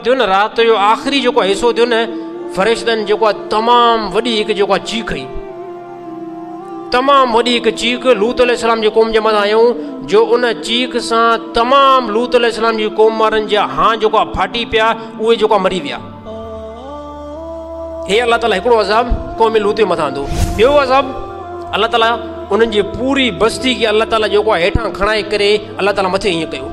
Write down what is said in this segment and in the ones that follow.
ٿيو نه رات جو آخري جيڪو حصو ٿيو نه فرشتن جيڪو آهي تمام وڏي هڪ جيڪو آهي چيخ هئي تمام وڏي هڪ چيخ لوت عليه السلام جي قوم جي مٿان آيون جو ان چيخ سان تمام لوت عليه السلام جي قوم وارن جا هان جيڪو آهي ڦاٽي پيا اهي جيڪو مري ويا هي الله تعالیٰ هڪڙو عذاب قوم لوت جي مٿان ٿو ٻيو عذاب الله تعالیٰ انهن جي پوري بستي کي الله تعالیٰ جيڪو آهي هيٺان کڻائي ڪري الله تعالیٰ مٿي ائين ڪيو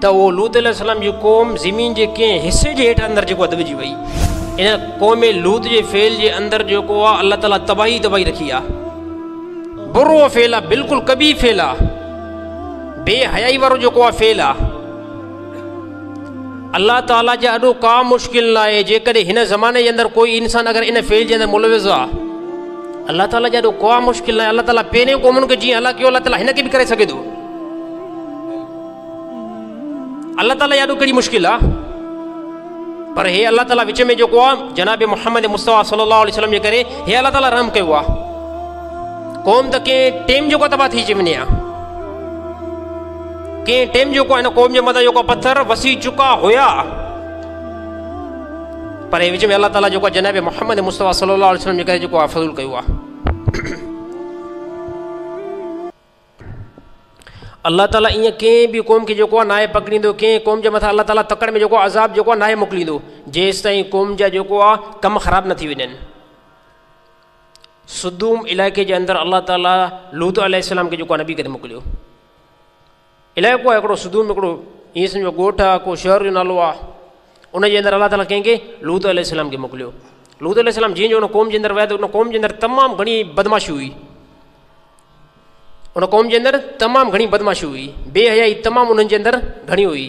ته اهو لوط عليه السلام جي قوم زمين جي ڪنهن حصي جي هيٺ اندر جيڪو دٻجي وئي ان قوم لوط جي فعل جي اندر جيڪو آ الله تعالي تباهي ئي تباهي رکي آ برو فعل آ بلڪل قبيح فعل آ بي حيائي وارو جيڪو آ فعل آ الله تعالي جي اڏو ڪا مشڪل نه آهي جيڪڏهن هن زماني جي اندر ڪوئي انسان اگر ان فعل جي اندر ملوث آ الله تعالي جي اڏو ڪا مشڪل نه آهي الله تعالي پهرين قومن کي جيئن هلاڪيو الله تعالي هن کي به ڪري سگهي ٿو الله تعالي يا ڏکڙي مشڪل آ پر هي الله تعالي وچ ۾ جيڪو آ جناب محمد مصطفيٰ صلي الله عليه وسلم جي ڪري هي الله تعالي رحم ڪيو آ قوم ته ڪنهن ٽيم جيڪو تباهه ٿي وڃي آ ڪنهن ٽيم جيڪو هن قوم جي مٿان جيڪو پٿر وسي چڪا هيا پر هي وچ ۾ الله تعالي جيڪو جناب محمد مصطفيٰ صلي الله عليه وسلم جي ڪري جيڪو آ فضل ڪيو آ الله تعالي ايئن ڪنهن به قوم کي جيڪو آهي ناهي پڪڙيندو ڪنهن قوم جي مٿان الله تعالي تڪڙ ۾ جيڪو عذاب جيڪو آهي ناهي موڪليندو جيستائين قوم جا جيڪو آهي ڪم خراب نه ٿي وڃن سدوم علائقي جي اندر الله تعالي لوت عليه السلام کي جيڪو نبي ڪري موڪليو علائقو آهي هڪڙو صدوم هڪڙو ائين سمجهو ڳوٺ آهي ڪو شهر جو نالو آهي ان جي اندر الله تعالٰي ڪنهن کي لوط عليه السلام کي موڪليو لوط عليه السلام جيئن جو ان قوم جي اندر ويا ته ان قوم جي اندر تمام گهڻي بدماشي هئي ان قوم جي اندر تمام گهڻي بدماشي هئي بي حيائي تمام انهن جي اندر گهڻي هئي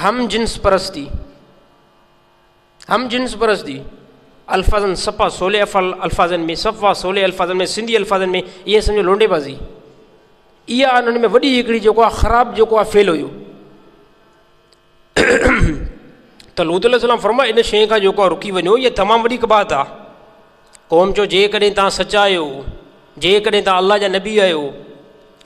هم جنس پرستي، هم جنس پرستي الفاظن صفا سولي الفاظن ۾ صفا سولي الفاظن ۾ سنڌي الفاظن ۾ ائين سمجهو لونڊي بازي اها انهن ۾ وڏي هڪڙي جيڪو آ خراب جيڪو آ فيل هيو ته لوت عليه السلام فرمايو ان شيء کان جيڪو رڪي وڃو هي تمام وڏي ڪبا ٿا قوم جو جيڪڏهن تان سچا آهيو جيڪڏهن تان الله جا نبي آهيو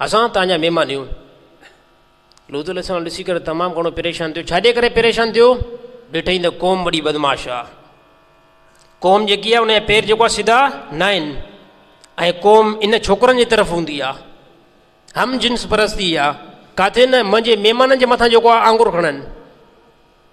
اسان تان جا مهمان هيون. لوط عليه السلام ڏسي ڪري تمام گهڻو پريشان ٿيو، ڇا جي ڪري پريشان ٿيو؟ ڏٺئي ته قوم وڏي بدمعاش آ. قوم جيڪي آ ان جا پير جيڪو آ سڌا ناهن ۽ قوم ان ڇوڪرن جي طرف هوندي آ. هم جنس پرستي آ. ڪاٿي نه منهنجي مهمانن جي مٿان جيڪو آ آڱر کڻن.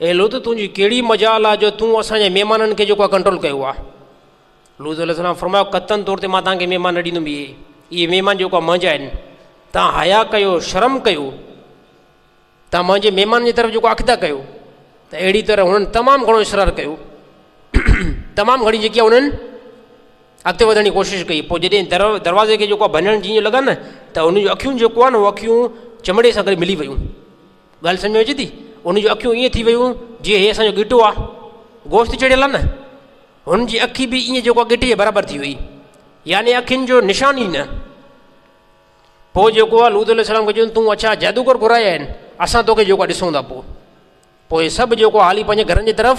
اي لوط تنهنجي ڪهڙي مجال آ جو تون اسان جي مهمانن کي جيڪو آ ڪنٽرول ڪيو آ. لوط عليه السلام فرمايو قطعن طور تي مان توهان کي مهمان نه ڏيندم اهي اهي مهمان جيڪو آ منهنجا آهن توهان حياء ڪيو شرم ڪيو توهان منهنجي مهمانن جي طرف جيڪو اخدا ڪيو ته اهڙي طرح هنن تمام گهڻو اصرار ڪيو تمام گهڻي جيڪي آ هنن اڳتي وڌڻ جي ڪوشش ڪئي پوء جڏهن در دروازي کي جيڪو آ ڀڃڻ جيئن لڳا نه ته هن جون اکيون جيڪو آ نه اهو اکيون چمڙي سان گڏ ملي ويون ڳالهه سمجهه ۾ اچي ٿي؟ ان جون اکيون ائين ٿي ويون جيئن هي اسان جو ڳٽو آ. گوشت چڙهيل آ نه. هن جي اکي به ائين جيڪو ڳٽي جي برابر ٿي هئي. يعني اکين جو نشان ئي نه. پوء جيڪو آ لوط عليه السلام کي چيو تون اڇا جادوگر گهرايا آهن اسان توکي جيڪو آ ڏسون ٿا پوء. پوء سڀ جيڪو آ هلي پنهنجي گهرن جي طرف.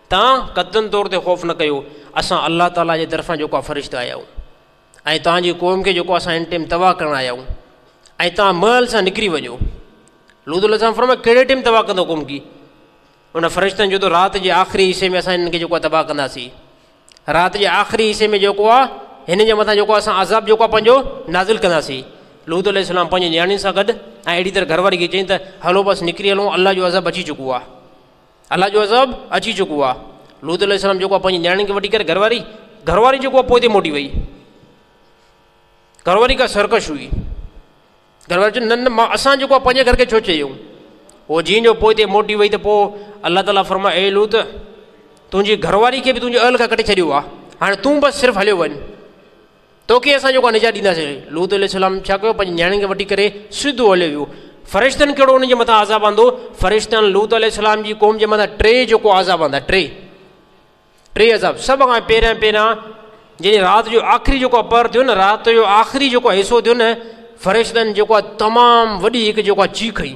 توهان قطعاً طور تي خوف نه ڪيو، اسان الله تعاليٰ جي طرفان جيڪا فرشتا آيا آهيون ۽ توهان جي قوم کي جيڪو اسان هن ٽيم تباهه ڪرڻ آيا آهيون ۽ توهان مهل سان نڪري وڃو. لوط عليه السلام فرمايو ڪهڙي ٽيم تباهه ڪندو قوم کي؟ انهن فرشتن چيو ته رات جي آخري حصي ۾ اسان هنن کي جيڪو آهي تباهه ڪنداسين. رات جي آخري حصي ۾ جيڪو آهي هنن جي مٿان جيڪو اسان عذاب جيڪو آهي پنهنجو نازل ڪنداسين. لوط عليه السلام پنهنجي نياڻين سان گڏ ۽ اهڙي طرح گهر واري کي چيائين ته هلو بس نڪري هلون الله جو عذاب اچي چڪو آهي. الله جو عذاب اچي چڪو آ. لوط عليه السلام جيڪو آ پنهنجي نياڻين کي وٺي ڪري گهر واري گهر واري جيڪو آ پوئتي موٽي وئي. گهر واري ڪا سرڪش هئي. گهر واري چيو نه نه مان اسان جيڪو آ پنهنجي گهر کي ڇو چيون. هو جيئن جو پوئتي موٽي وئي ته پوء الله تعالي فرمايو اي لوط تنهنجي گهر واري کي به تنهنجي اهل کان ڪڍي ڇڏيو آ هاڻي تون بس صرف هليو وڃ. توکي اسان جيڪو آهي نجات ڏينداسين. لوط عليه السلام ڇا ڪيو؟ پنهنجي نياڻين کي وٺي ڪري سڌو هليو ويو. فرشتن ڪهڙو ان جي مٿان عذاب آندو؟ فرشتن لوط عليه السلام جي قوم جي مٿان ٽي جيڪو عذاب آندا، ٽي ٽي عذاب سڀ کان پهريان پهريان جڏهن رات جو آخري جيڪو پهر ٿيو نه، رات جو آخري جيڪو حصو ٿيو نه، فرشتن جيڪو آهي تمام وڏي هڪ جيڪو آهي چيخ هنئي.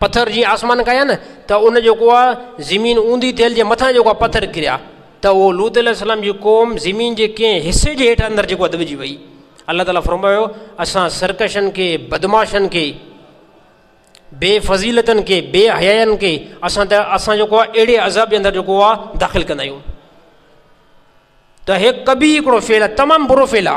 پٿر جي آسمان ڪيا نه ته ان جيڪو آ زمين اوندي ٿيل جي مٿان جيڪو آ پٿر ڪريا ته اهو لوط عليه السلام جي قوم زمين جي ڪنهن حصي جي هيٺ اندر جيڪو دٻجي وئي الله تعالٰي فرمايو اسان سرڪشن کي بدماشن کي بي فضيلتن کي بي حيائن کي اسان ته اسان جيڪو آ اهڙي عذاب جي اندر جيڪو آ داخل ڪندا آهيون ته هي ڪبي هڪڙو فعل آ تمام برو فعل آ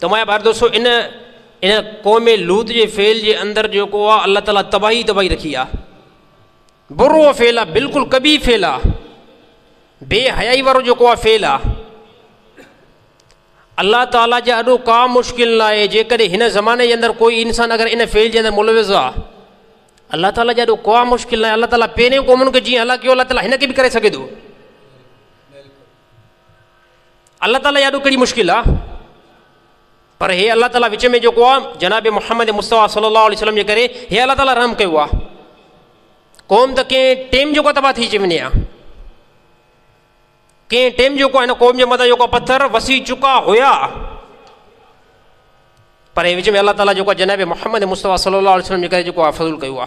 توهان ٻار دوستو ان ان قوم لوط جي فعل جي اندر جيڪو آ الله تعاليٰ تباهي تباهي رکي آ برو فعل آ بالکل کبي فعل آ بي حيائي وارو جيڪو آ فعل آ الله تعاليٰ جا اڏو ڪا مشڪل نه آهي جيڪڏهن هن زماني جي اندر ڪوئي انسان اگر ان فعل جي اندر ملوث آ الله تعاليٰ جا اڏو ڪا مشڪل نه آهي الله تعاليٰ پهرين قومن کي جيئن هلاڪيو الله تعاليٰ هن کي به ڪري سگهي ٿو الله تعالي يا ڏو ڪھڙي مشڪل آ پر هي الله تعالي وچ ۾ جيڪو آ جناب محمد مصطفيٰ صلي الله عليه وسلم جي ڪري هي الله تعالي رحم ڪيو آ قوم ته ڪنهن ٽيم جيڪو تباهه ٿي اچي وڃي آ ڪنهن ٽيم جيڪو هن قوم جي مٿان جيڪو پٿر وسي چڪا هيا پر هي وچ ۾ الله تعالي جيڪو جناب محمد مصطفيٰ صلي الله عليه وسلم جي ڪري جيڪو آ فضل ڪيو آ